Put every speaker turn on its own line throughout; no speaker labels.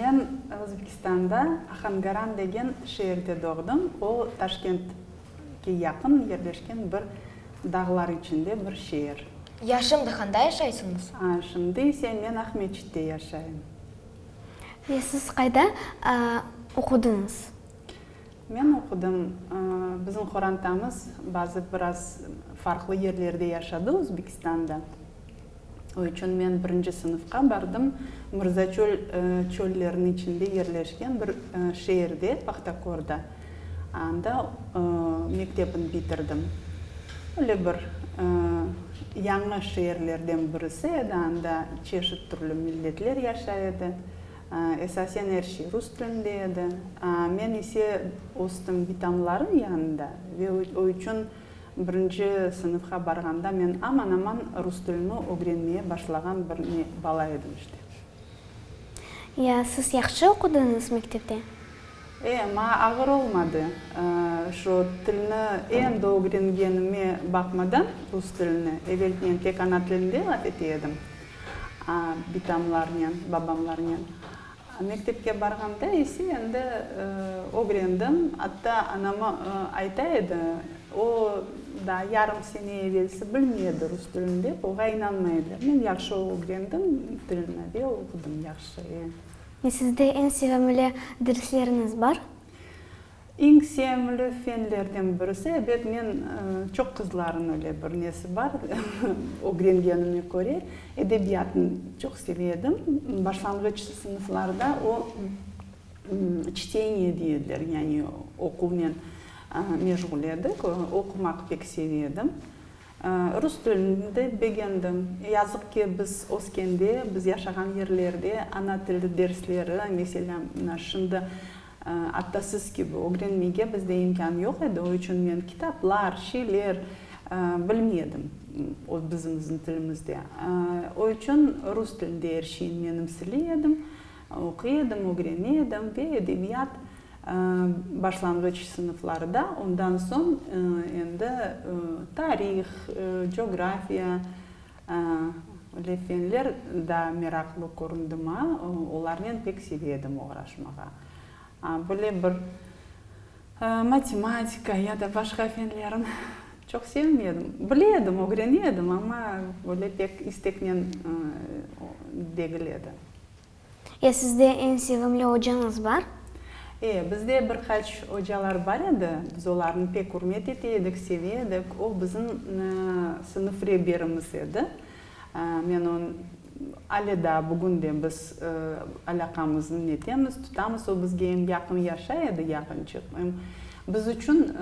Men Özbekistanda Ahangaran degen şeerde doğdım. O, Taşkentke yaqın yerleşken bir dağlar içinde bir şeer. Ya şimdi handa
yaşaysıñız? Şimdi ise
men Aqmescitte yaşayım.
Ve siz qayda oqudıñız?
Men oqudım, bizim qorantamız bazı biraz farqlı yerlerde yaşadı Özbekistanda. O içün men birinci sınıfqa bardım. Mırzaçöl çölleriniñ içinde yerleşken bir şeerde, Pahtakorda, anda mektebini bitirdim. Öyle bir yañı şeerlerden birisi edi, anda çeşit türlü milletler yaşay edi. Esasen er şey rus tilinde edi. Men ise östüm bitamlarım yanında ve o içün, Birinci sınıfqa barğanda men aman-aman rus tilini ögrenmeye başlağan bir ne bala edim işte. Ya, siz
yahşı oqudıñız mektepte? E, maña
ağır olmadı. Şu tilni endi ögrengenime baqmadan, rus tilini, eveltnen tek ana tilinde laf ete edim, bitamlarnen, babamlarnen. Mektepke barğanda ise endi ögrendim. Atta anama ayta edi, o, daa yarım sene evelsi bilmey edi rus tilini dep, oğa inanmay ediler. Men yahşı ögrendim tilni ve oqudım yahşı. Sizde
eñ sevimli dersleriniz bar? Eñ
sevimli fenlerden birisi, ebet, men çoq qızlarnıñ öyle bir nesi bar, ögrengenime köre, edebiyatnı çoq seve edim. Başlanğıç sınıflarda o, çteniye deydiler, yani oquvnen meşğul edik, oqumaq pek seve edim. Rus tilini de begendim. Yazıq ki, biz öskende, biz yaşağan yerlerde ana tili dersleri, meselâ, şimdi, Atta siz kibi ögrenmege bizde imkân yoq edi, o içün men kitaplar, şeyler bilmey edim öz bizimizniñ tilimizde. O içün rus tilinde er şeyni menimseley edim, oquy edim, ögrene edim ve edebiyat başlanğıç sınıflarıda, ondan soñ endi tarih, coğrafiya, Le Penler daa meraqlı köründi ma, olarnen pek seve edim oğraşmağa. Böyle bir matematika ya da başqa fenlerin çoq sevmedim. Bile edim, ögrene edim, amma böyle pek isteknen degil edi. E, sizde
eñ sevimli ocañız bar? E, bizde
bir qaç ocalar bar edi. Biz olarnı pek ürmet ete edik, seve edik. O, bizim sınıf reberimiz edi. Men on, ale daa bugün de biz alâqamıznı netemiz, tutamız. O bizge em yaqın yaşay edi, yaqınçıq. Em biz içün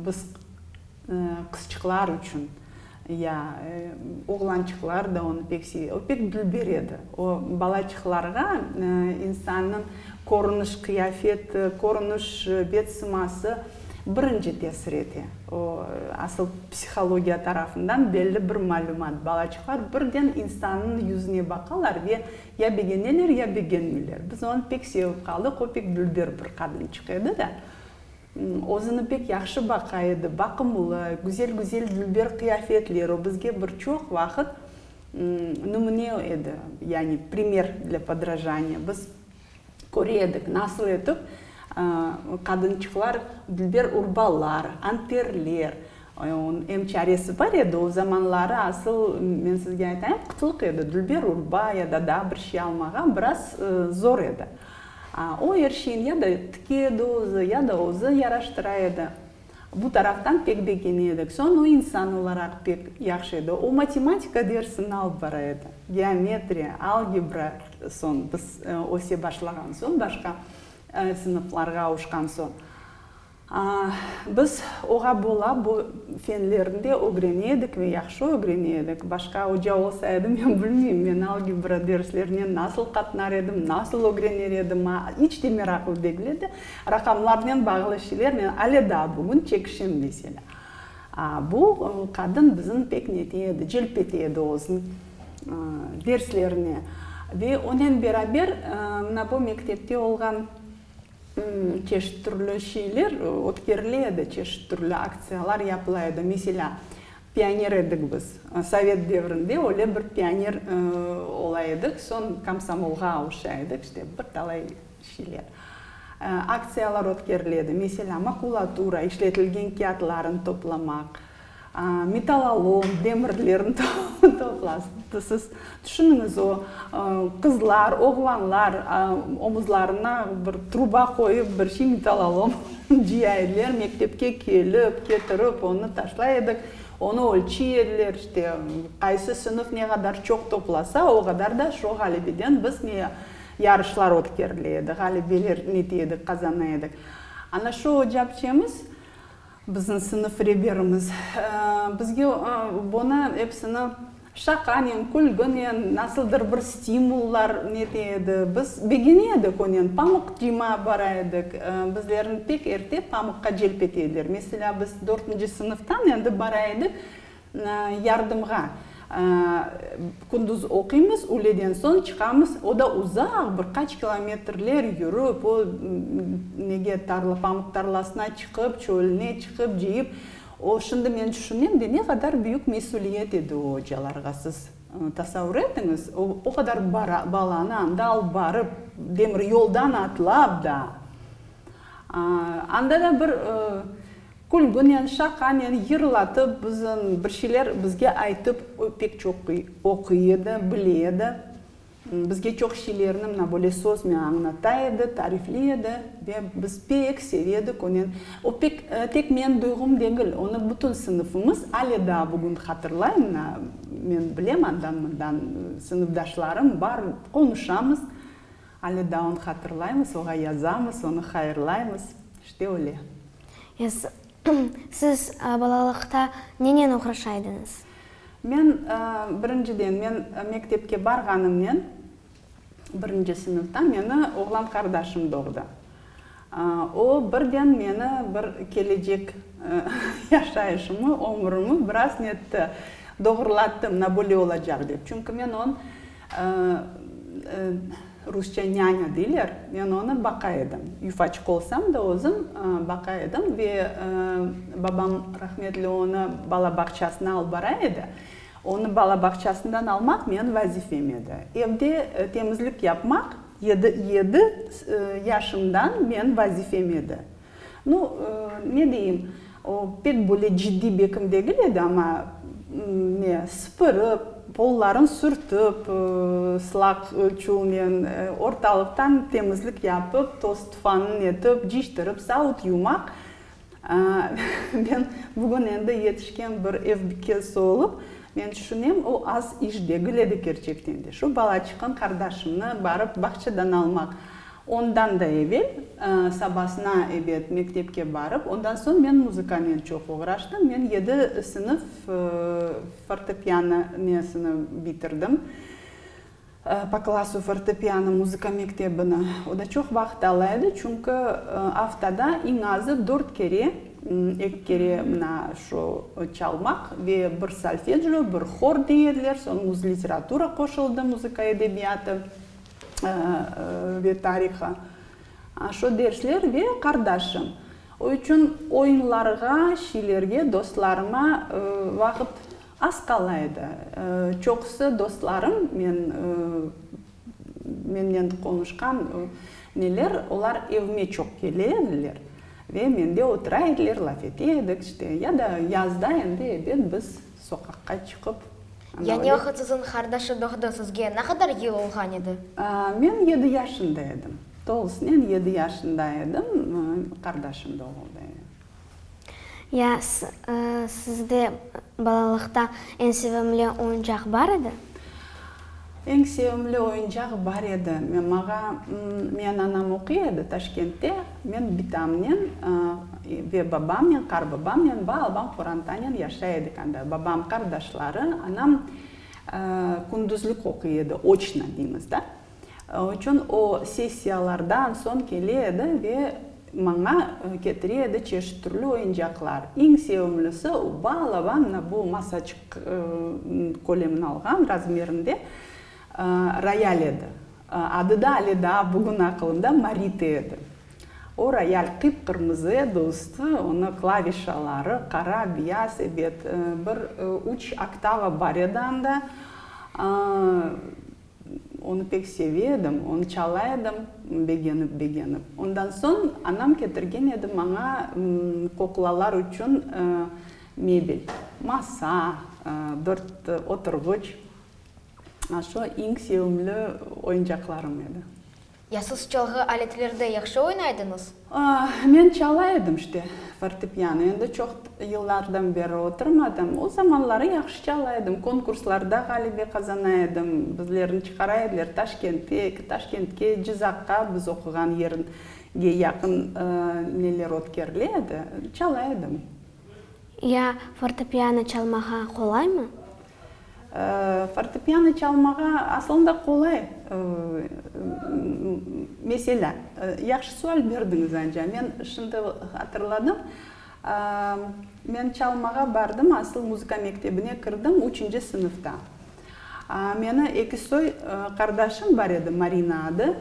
biz Qızçıqlar içün, ya, oğlançıqlar da onı pek seve. O pek dülber edi. O balaçıqlarğa insannıñ körüniş, qıyafeti, körüniş, bet sıması birinci tesir ete. O, asıl psihologiya tarafından belli bir malümat. Balaçıqlar birden insannıñ yüzüne baqalar ve ya begeneler, ya begenmeyler. Biz onı pek sevip qaldıq. O pek dülber bir qadınçıq edi de. Özüni pek yahşı baqa edi, baqımlı, güzel-güzel dülber qıyafetler, o bizge bir çoq vaqıt nümüne edi, yani primer для podrajaniya. Biz köre edik, nasıl etip qadınçıqlar dülber urbalar, anterler, Onıñ em çaresi bar edi, o zamanları asıl, men sizge aytayım, qıtlık edi, dülber urba ya da daa bir şey almağa biraz zor edi. O er şeyin ya da tıke edi özü, ya da özü yaraştıra edi. Bu taraftan pek begene edik. Soñ o insan olaraq pek yahşı edi. O matematika dersini alıp bara edi. Geometriya, algebra, soñ biz öse başlağan soñ, başqa sınıflarğa avuşqan soñ. Biz oğa bola bu fenlerni de ögrene edik ve yahşı ögrene edik. Başqa oca olsa edi, men bilmeyim, men algebra derslerine nasıl qatnar edim, nasıl ögrener edim, ma iç de meraqlı degil edi. Raqamlarnen bağlı şeyler, men ale daa bugün çekişem, meselâ. Bu qadın bizni pek nete edi, celp ete edi özüni derslerine. Ve onen beraber mına bu mektepte olğan. Çeşit türlü şeyler ötkerile edi, çeşit türlü aktsiyalar yapıla edi. Meselâ, pioner edik biz. Sovet devrinde öyle bir pioner ola edik, soñ komsomolğa avuşa edik, işte bir talay şeyler. Aktsiyalar ötkerile edi. Meselâ, makulatura, işletilgen kâğıtlarnı toplamaq. Metal alom, demirlerni toplasın. Siz tüşüniñiz, o qızlar, oğlanlar omuzlarına bir truba qoyıp, bir şey metal alom cıya ediler, mektepke kelip, ketirip, onı taşlay edik, onı ölçiy ediler, işte, qaysı sınıf ne qadar çoq toplasa, o qadar da şu ğalebeden biz ne yarışlar ötkerile edi, ğalebeler nete edik, qazana edik. Ana şu ocapçemiz Bizim sınıf reberimiz bizge bunı epsini şaqanen, külginen, nasıldır bir stimullar nete edi. Biz begene edik onen. Pamıq cima bara edik. Bizlerni pek erte pamıqqa celp ete ediler. Meselâ, biz dörtünci sınıftan endi bara edik. yardımğa. Kündüz oquymız, üğleden soñ çıqamız, o da uzaq, bir qaç kilometrler yürip, o nege, tarla, pamıq tarlasına çıqıp, çölüne çıqıp, cıyıp. O, şimdi men tüşünem de, ne qadar büyük mesüliyet edi o ocalarğa, siz tasavur etiñiz, o, o qadar balanı anda alıp barıp, demir yoldan atlap da. Anda da bir külgünen, şaqanen, yırlatıp, bizim bir şeyler bizge aytıp, o pek çoq oquy edi, bile edi. Bizge çoq şeylerni mına böyle söznen añlata edi, tarifley edi ve biz pek seve edik onen. O pek tek menim duyğum degil, onı bütün sınıfımız ale daa bugün hatırlay, mına men bilem andan-mundan sınıfdaşlarım bar, qonuşamız. Alı da onı hatırlaymız, oğa yazamız, onı hayırlaymız. İşte öyle. Yaz.
Siz balalıqta nenen oğraşa ediñiz? Men,
birinciden, men mektepke barğanımnen, birinci sınıfta meni oğlan qardaşım doğdı. O, birden meni bir kelecek yaşayışımı, ömrümi biraz netti, doğrulattı, na böyle olacaq dep. Çünki men on, rusça nânya deyler, men onı baqa edim. Yufaçıq olsam da özüm baqa edim ve babam rahmetli onı bala bağçasına alıp bara edi. Onı bala bağçasından almaq menim vazifem edi. Evde temizlik yapmaq. Yedi, yedi yaşımdan men vazifem edi. Nu, ne deyim, o pek böyle ciddiy bekim degil edi, amma, ne, sıpırıp, pollarını sürtip, sılaq çulnen ortalıqtan temizlik yapıp, toz-tufanın etip, ciştirip, savut yumaq, Men bugün endi yetişken bir evbikesi olıp, men tüşünem, o az iş degil edi kerçekten de. Şu bala çıqqan qardaşımnı barıp bağçadan almaq, ondan da evel, sabasına, ebet, mektepke barıp, ondan soñ men muzıkanen çoq oğraştım. Men yedi sınıf fortepiano niyesini bitirdim. Poklasov fortepiano muzıka mektebini. O da çoq vaqıt ala edi, çünki aftada eñ azı dört kere, eki kere mına şu çalmaq ve bir solfedjo, bir hor dey ediler, soñi uz literatura qoşuldı, muzıka edebiyatı ve tarihı, aşo dersler ve qardaşım. O içün oyunlarğa, şiilerge, dostlarıma vaqıt. Az qala edi. Çoqusı dostlarım, men, menden qonuşqan neler, olar evime çoq kele ediler ve mende otura ediler, laf ete edik, işte. Ya da yazda endi ebet biz soqaqqa çıqıp, ana Yani öyle.
Oxutsızıñ qardaşı doğdı sizge ne qadar yıl olğan edi? Men yedi
yaşında edim. Tolusınen yedi yaşında edim, qardaşım doğuldı.
Ya sizde balalıqta eñ sevimli oyuncaq bar edi?
Eñ sevimli oyuncaq bar edi. Mağa, meyen anam oquy edi Taşkentte. Men bitamnen ve babamnen, qarbabamnen va alban qorantanen yaşay edik anda. Babam, qardaşları, anam kündüzlik oquy edi, oçno deymiz da. Çün o sessiyalardan soñ kele edi ve maña ketire edi çeşit türlü oyuncaqlar. Eñ sevimlisi, o bal avannı, bu masaçıq kölemini alğan razmerinde, royal edi. Adı da ale daa bugün aqılımda Marita edi. O royal qıp-qırmızı edi, üstü, onı klavişaları qara, biyaz, ebet, bir üç oktava bar edi anda. Onı pek seve edim, onı çala edim begenip-begenip. Ondan soñ anam ketirgen edi maña kuklalar içün mebel, masa, bir oturğıç. Aşo eñ sevimli oyuncaqlarım edi. Ya siz çalğı
aletlerde yahşı oynaydıñız? Men
çalay edim işte, fortepiano. Endi çoq yıllardan beri oturmadım. O zamanları yahşı çalay edim. Konkurslarda ğalibe qazana edim. Bizlerni çıqara ediler Taşkentek, Taşkentke, Cızaqqa, biz oquğan yerge yaqın neler ötkerile edi. Çalay edim. Ya
fortepiano çalmağa qolaymı? Fortepiano
çalmağa aslında qolay mesele. Yahşı sual berdiñiz, Anja. Men şimdi hatırladım. Men çalmağa bardım, asıl muzıka mektebine kirdim üçünci sınıfta. Meni eki soy qardaşım bar edi, Marina adı,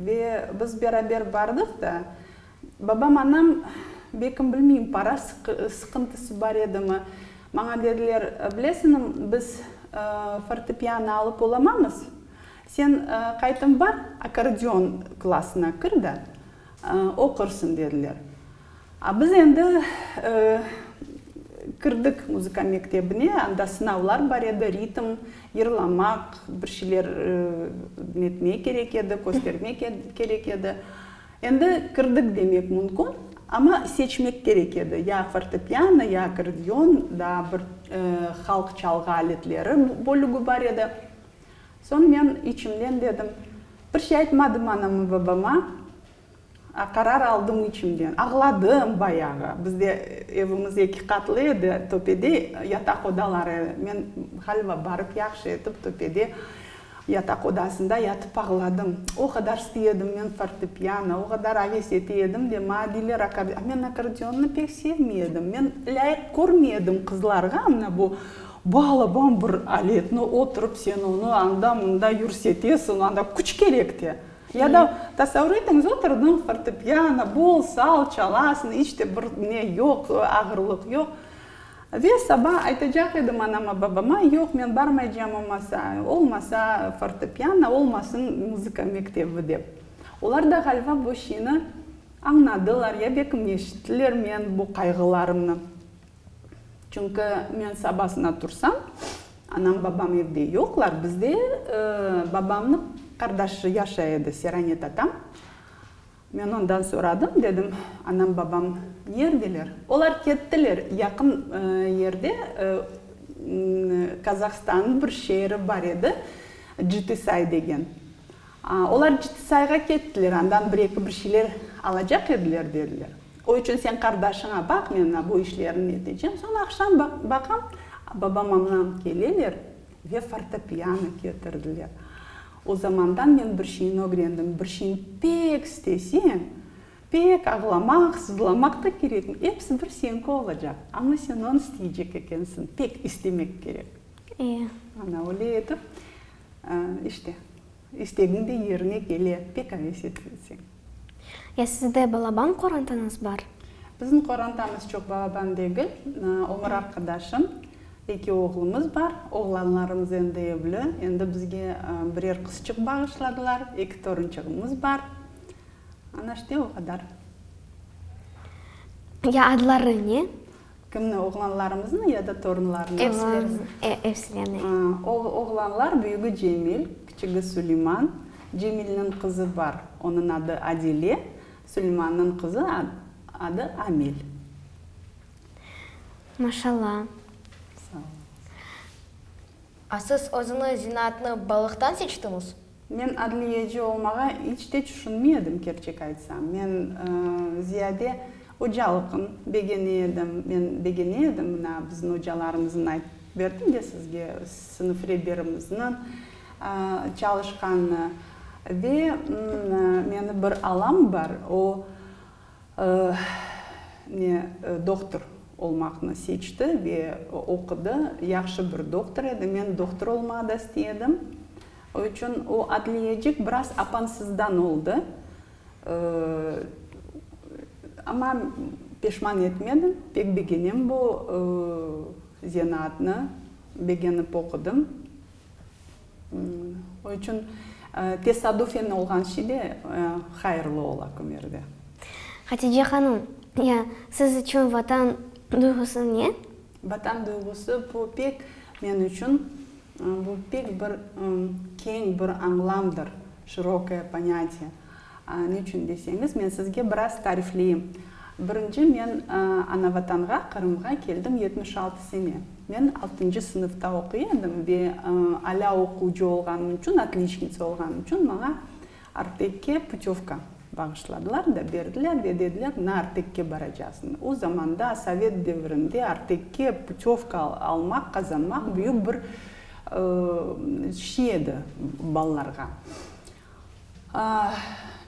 ve biz beraber bardıq da, Babam, anam, bekim bilmeyim, para sıqıntısı bar edimi, maña dediler, bilesinim, biz fortepiano alıp olamamız, sen qaytım bar, akkordeon klassına kir da, oqursıñ, dediler. A biz endi kirdik muzıka mektebine, anda sınavlar bar edi, ritm, yırlamaq, bir şeyler netmek kerek edi, köstermek kerek edi. Endi kirdik demek mümkün, amma seçmek kerek edi, ya fortepiano, ya akkordeon, daa bir halq çalğı aletleri bölügi bar edi. Soñ men içimden dedim, bir şey aytmadım anama-babama, qarar aldım içimden. Ağladım bayağı, bizde evimiz eki qatlı edi, töpede yataq odaları edi. Men ğaliba barıp yahşı etip töpede Yataq odasında yatıp ağladım. O qadar sti edim men fortepiano, o qadar aves ete edim de maña diyler akorde. A men akkordeonni pek sevmey edim. Men lâyıq körmey edim qızlarğa mına bu balaban bir aletni oturıp sen onı anda-mında yürsetesiñ, anda küç kerek te. Ya da tasavur etiñiz, oturdıñ fortepiano, bol sal çalasıñ, iç te bir ne yoq, ağırlıq yoq. Ve saba aytacaq edim anama-babama, yoq, men barmaycam o masa, olmasa fortepiano, olmasın muzıka mektebi, dep. Olar da ğaliba bu şiini añnadılar, ya bekim eşittiler men bu qayğılarımnı. Çünki men sabasına tursam, anam-babam evde yoqlar, bizde babamnıñ qardaşı yaşay edi, Seranet atam. Men ondan soradım, dedim, anam, babam nerdeler? Olar kettiler, yaqın yerde Kazahstannıñ bir şeeri bar edi, Citisay degen. Olar Citisayğa kettiler, andan bir-eki bir şeyler alacaq ediler, dediler. O içün sen qardaşıña baq, men bu işlerni netecem. Soñ aqşam baqam, babam-anam keleler. Ve fortepiano ketirdiler. O zamandan men bir şeyni ögrendim, bir şeyni pek isteseñ, pek ağlamaq, sızlamaq da kerekmiy, episi bir señki olacaq, amma sen onı isteycek ekensiñ, pek istemek kerek. Ana, öyle etip, işte. İstegiñ de yerine kele, pek aves etilse. Ya sizde
balaban qorantanıız bar? Bizim qorantamız
çoq balaban degil, ömür arqadaşım, eki oğlumız bar. Oğlanlarımız endi evli, endi bizge birer qızçıq bağışladılar, eki torunçığımız bar. Ana işte, o qadar.
Ya adları ne? Kimni,
oğlanlarımıznı ya da torunlarnı? Evsilerini.
Evsilerini.
Oğlanlar büyügi Cemil, kiçigi Suleyman. Cemilniñ qızı bar, onıñ adı Adile, Suleymannıñ qızı adı Amel.
Maşalla. Sağ olunız.
A siz özüniz zinaatnı balıqtan seçtiñiz? Men adliyeci
olmağa iç te tüşünmey edim, kerçek aytsam. Men ziyade ocalıqnı begeney edim. Men begeney edim mına bizim ocalarımıznıñ, aytıp berdim de sizge, sınıf reberimizniñ çalışqanını. Ve meni bir alam bar, o ne, doktor olmaqnı seçti ve oqudı, yahşı bir doktor edi. Men doktor olmağa da istey edim. Üçün o adliyecik biraz apansızdan oldı. Amma peşman etmedim, pek begenem bu zenaatnı, begenip oqudım. O içün tesadüfen olğan şey de hayırlı ola kümerde. Hatice
hanım, siz içün Vatan duyğusı ne? Vatan duyğusı,
bu pek, men içün, bu pek bir keñ bir añlamdır, şirokoye ponâtiye. Ne içün deseñiz, men sizge biraz tarifleyim. Birinci, men Anavatanğa, Qırımğa keldim yetmiş altı sene. Men altıncı sınıfta oquy edim ve alâ oquvcı olğanım içün, otliçnitsa olğanım içün, maña Artekke putevka bağışladılar da berdiler ve dediler, na Artekke baracaqsıñ. O zamanda, sovet devirinde Artekke putevka almaq, qazanmaq büyük bir şey edi balalarğa.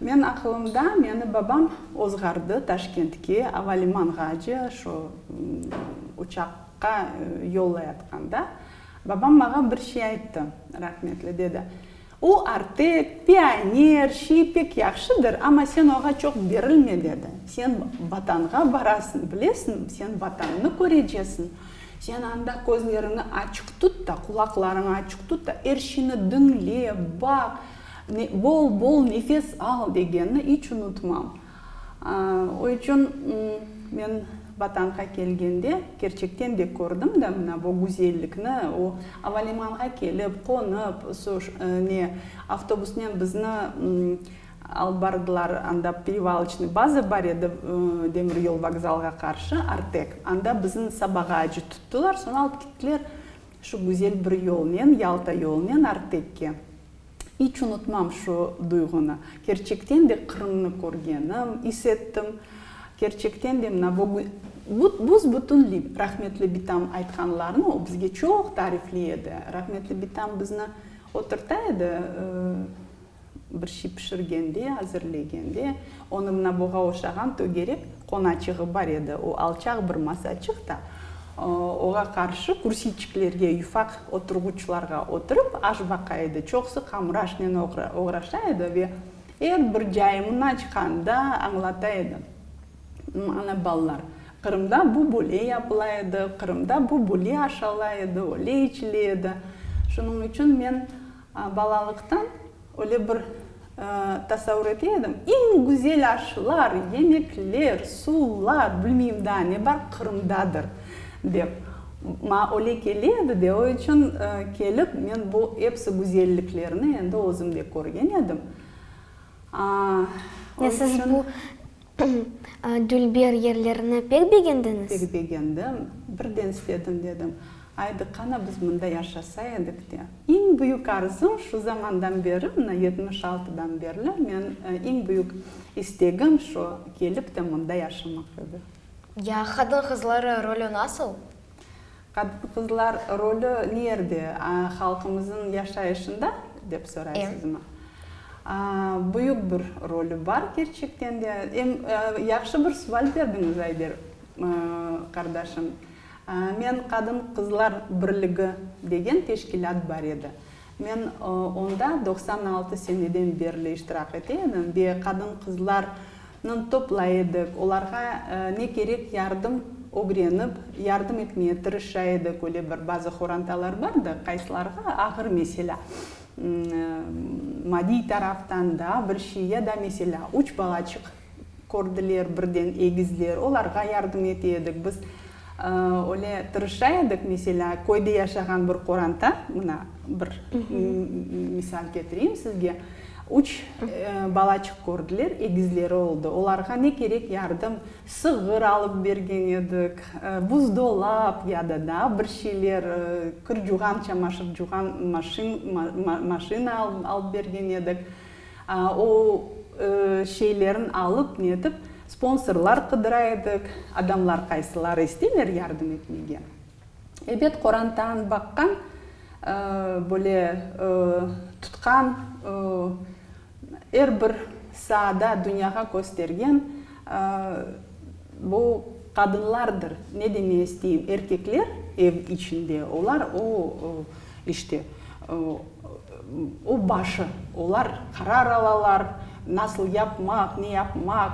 Men aqılımda, meni babam ozğardı Taşkentke, avalimanğace, şu uçaqqa yollayatqanda, babam mağa bir şey ayttı, rahmetli, dedi, O, Artek, pioner, şey pek yahşıdır, amma sen oğa çoq berilme, dedi. Sen Vatanğa barasıñ, bilesiñmi? Sen Vatannı körecesiñ. Sen anda közleriñi açıq tut da, qulaqlarıñı açıq tut da, er şeyni diñle, baq, bol-bol nefes al, degenini iç unutmam. O içün men Vatanğa kelgende kerçekten de kördim da mına bu güzellikni, o avalimanğa kelip, qonıp, su ne, avtobusnen bizni alıp bardılar, anda Perevaloçnıy baza bar edi, demir yol vokzalğa qarşı, Artek, anda bizni sabağa acı tuttılar, soñ alıp gittiler şu güzel bir yolnen, Yalta yolunen Artekke. İç unutmam şu duyğunı. Kerçekten de Qırımnı körgenim, is ettim. Kerçekten de mına bu büs-bütünliy rahmetli bitam aytqanlarını, o bizge çoq tarifley edi. Rahmetli bitam bizni oturta edi, bir şey pişirgende, azirlegende. Onıñ naboğa oşağan tögerek qonaçığı bar edi, o alçaq bir masaçıq da, oğa qarşı kürsiyçiklerge, yufaq oturğuçlarğa oturıp aş baqa edi. Çoqusı qamuraşnen oğraşa edi ve er bir cayımına çıqanda añlata edi. Ana, balalar, Qırımda bu böyle yapıla edi, Qırımda bu böyle aş ala edi, öyle içile edi. Şunıñ içün men. Balalıqtan öyle bir tasavur ete edim, eñ güzel aşlar, yemekler, suvlar, bilmeyim daa ne bar, Qırımdadır, dep. Maña öyle kele edi de, o içün kelip, men bu episi güzelliklerni endi özüm de körgen edim.
O içün. Dülber, yerlerini pek begendiñiz? Pek begendim.
Birden istedim, dedim. Aydı, qana biz mında yaşasa edik de. İñ büyük arzum, şu zamandan beri, mına yetmiş altıdan berli, men iñ büyük istegim şu, kelip de mında yaşamaq edi. Ya
qadın-qızları rolü nasıl?
Qadın-qızlar rolü nerde halqımıznıñ yaşayışında, dep soraysızmı? Büyük bir rolü bar, kerçekten de. Em yahşı bir suval berdiñiz, Ayder qardaşım. Men Qadın-qızlar birligi degen teşkilât bar edi. Men onda doqsan altı seneden berli iştirak ete edim ve qadın-qızlarnıñ topla edik, olarğa ne kerek yardım ögrenip, yardım etmeye tırışa edik. Öyle bir bazı qorantalar bardı, qaysılarğa ağır, meselâ, madiy taraftan daa bir şey, ya da, meselâ, üç balaçıq kördiler birden egizler, olarğa yardım ete edik. Biz öyle tırışa edik, meselâ, köyde yaşağan bir qoranta, mına, bir misal ketireyim sizge, üç balaçıq kördiler, egizleri oldı, olarğa ne kerek yardım, sığır alıp bergen edik, buzdolap ya da daa bir şeyler, kir-cuğan, çamaşır-cuğan maşina alıp bergen edik. O şeylerni alıp, netip, sponsorlar qıdıra edik, adamlar qaysıları isteyler yardım etmege. Ebet, qorantanı baqqan, böyle tutqan, er bir saada dünyağa köstergen bu qadınlardır. Ne deme isteyim, erkekler ev içinde, olar o işte O başı. Olar qarar alalar, nasıl yapmaq, ne yapmaq,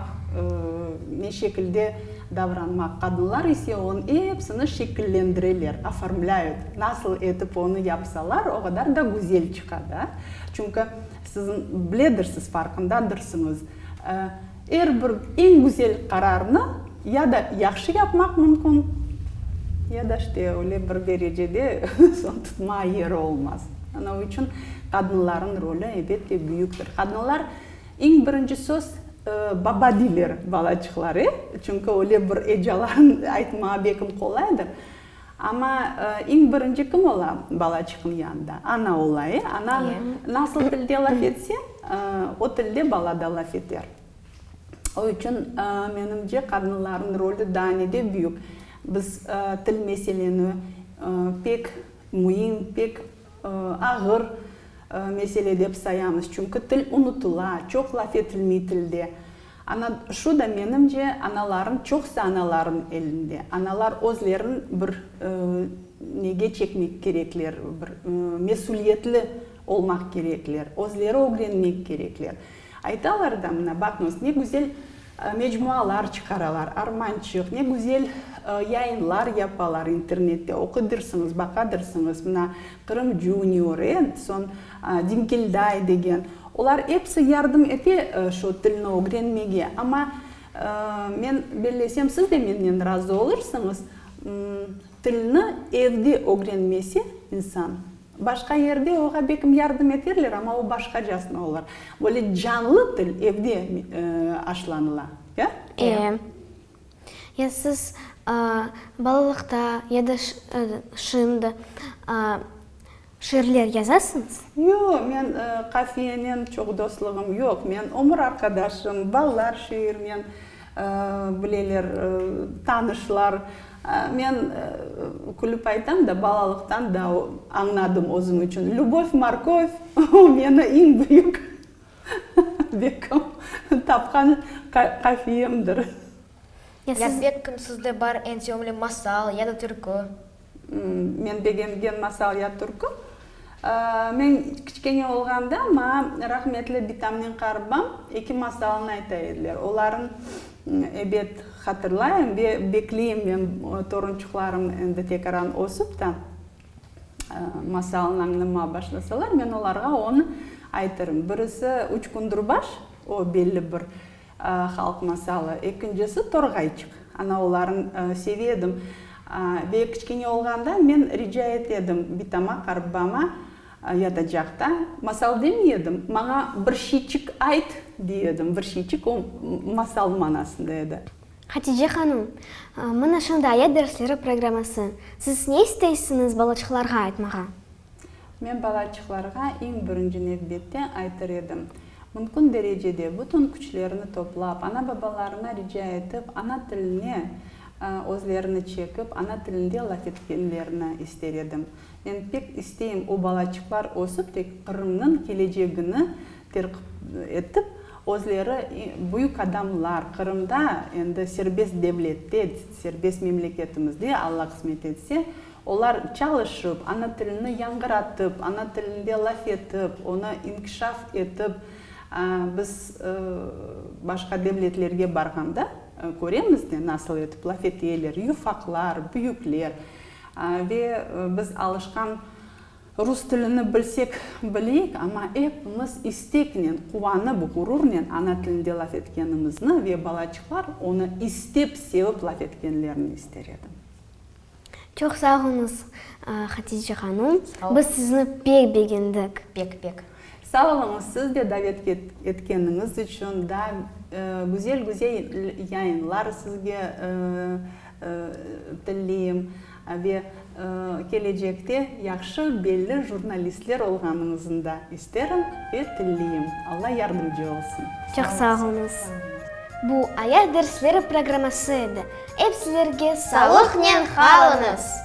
ne şekilde davranmaq. Qadınlar ise onı epsini şekillendireler, oformlâyut. Nasıl etip onı yapsalar, o qadar da güzel çıqa da. Çünki siz biledirsiz, farqındadırsıñız. Er bir eñ güzel qararnı ya da yahşı yapmaq mümkün, ya da işte öyle bir derecede soñ tutma yeri olmaz. Anavı içün qadınlarnıñ rolü, elbette, büyüktir. Qadınlar, eñ birinci söz, baba deyler balaçıqlar, e? Çünki öyle bir ecalarnı aytmağa bekim qolaydır. Amma iñ birinci kim ola balaçıqnıñ yanında? Ana ola, e? Ana nasıl tilde laf etse, o tilde bala da laf eter. O içün, menimce, qadınlarnıñ rolü daa ne de büyük. Biz til meseleni pek müim, pek ağır mesele dep sayamız, çünki til unutula, çoq laf etilmey tilde. Ana, şu da, menimce, anaların, çoqsı anaların elinde. Analar özlerin bir nege çekmek kerekler, bir mesülietli olmaq kerekler, özleri ögrenmek kerekler. Aytalar da, mına baqıñız, ne güzel mecmualar çıqaralar, Armançıq, ne güzel yayınlar yapalar internette, oqudırsıñız, baqadırsıñız, mına Qırım Junior, e, soñ Dingilday degen. Olar episi yardım ete şu tilni ögrenmege. Amma men bellesem, siz de menden razı olursıñız, tilni evde ögrenmese insan, Başqa yerde oğa bekim yardım eterler, amma o başqacasına olar. Böyle canlı til evde aşlanıla. Ya? Eee.
Ya siz balalıqta ya da şimdi şiirler yazasıñız? Yoq, men
qafiyenen çoq dostluğım yoq. Men ömür arqadaşım, balalar şiirinen. Bileler, tanışlar. Men külip aytam da, balalıqtan da añladım özüm içün. Lübov, morkov, o meni iñ büyük bekkim tapqan qafiyemdir.
Ya siz bekkim sizde bar eñ sevimli masal ya da türkü?
Men begengen masal ya türkü. Men kiçkene olğanda maña rahmetli bitamnen qarıbam eki masalını ayta ediler. Olarnı ebet hatırlayım ve bekleyim men torunçuqlarım endi tekaran ösüp ta masalnı añlama başlasalar, men olarğa onı aytırım. Birisi, Üç kündürbaş, o belli bir. Halq masalı. Ekincisi, Torğayçıq. Anaoğulların seve edim. Ve kiçkene olğanda men rica ete edim bitama, qarıbbama, yatacaqta. Masal demey edim, maña bir şeyçik ayt, dey edim. Bir şeyçik, o masal manasında edi. Hatice hanım,
mına şunday aya dersleri programması. Siz ne isteysiñiz balaçıqlarğa aytmağa? Men
balaçıqlarğa eñ birinci nevbette aytır edim, mümkün derecede bütün küçlerini toplap, ana-babalarına rica etip, ana tiline özlerini çekip, ana tilinde laf etkenlerini ister edim. Men pek isteyim, o balaçıqlar ösip, tek Qırımnıñ kelecegini terkip etip, özleri büyük adamlar, Qırımda, endi serbest devlette, serbest memleketimizde, Alla qısmet etse, Olar çalışıp, ana tilini yañğıratıp, ana tilinde laf etip, onı inkişaf etip, biz başqa devletlerge barğanda köremiz de, nasıl etip laf eteler, yufaqlar, büyükler. Ve biz alışqan rus tilini bilsek bileyik, amma epimiz isteknen, quvanıp, ğururnen ana tilinde laf etkenimizni ve balaçıqlar onı istep, sevip laf etkenlerini ister edim.
Çoq sağ oluñız, Hatice hanum. Biz sizni pek begendik. Pek, pek.
Sağ oluñız,
siz de davet etkeniñiz içün. Daa güzel-güzel yayınlar sizge tilleyim ve kelecekte yahşı, belli jurnalistler olğanıñıznı da isterim ve tilleyim. Alla yardımcı olsun. Çoq sağ oluñız.
Bu, Ayaz dersleri programması edi. Ep sizlerge salıqnen qalıñız!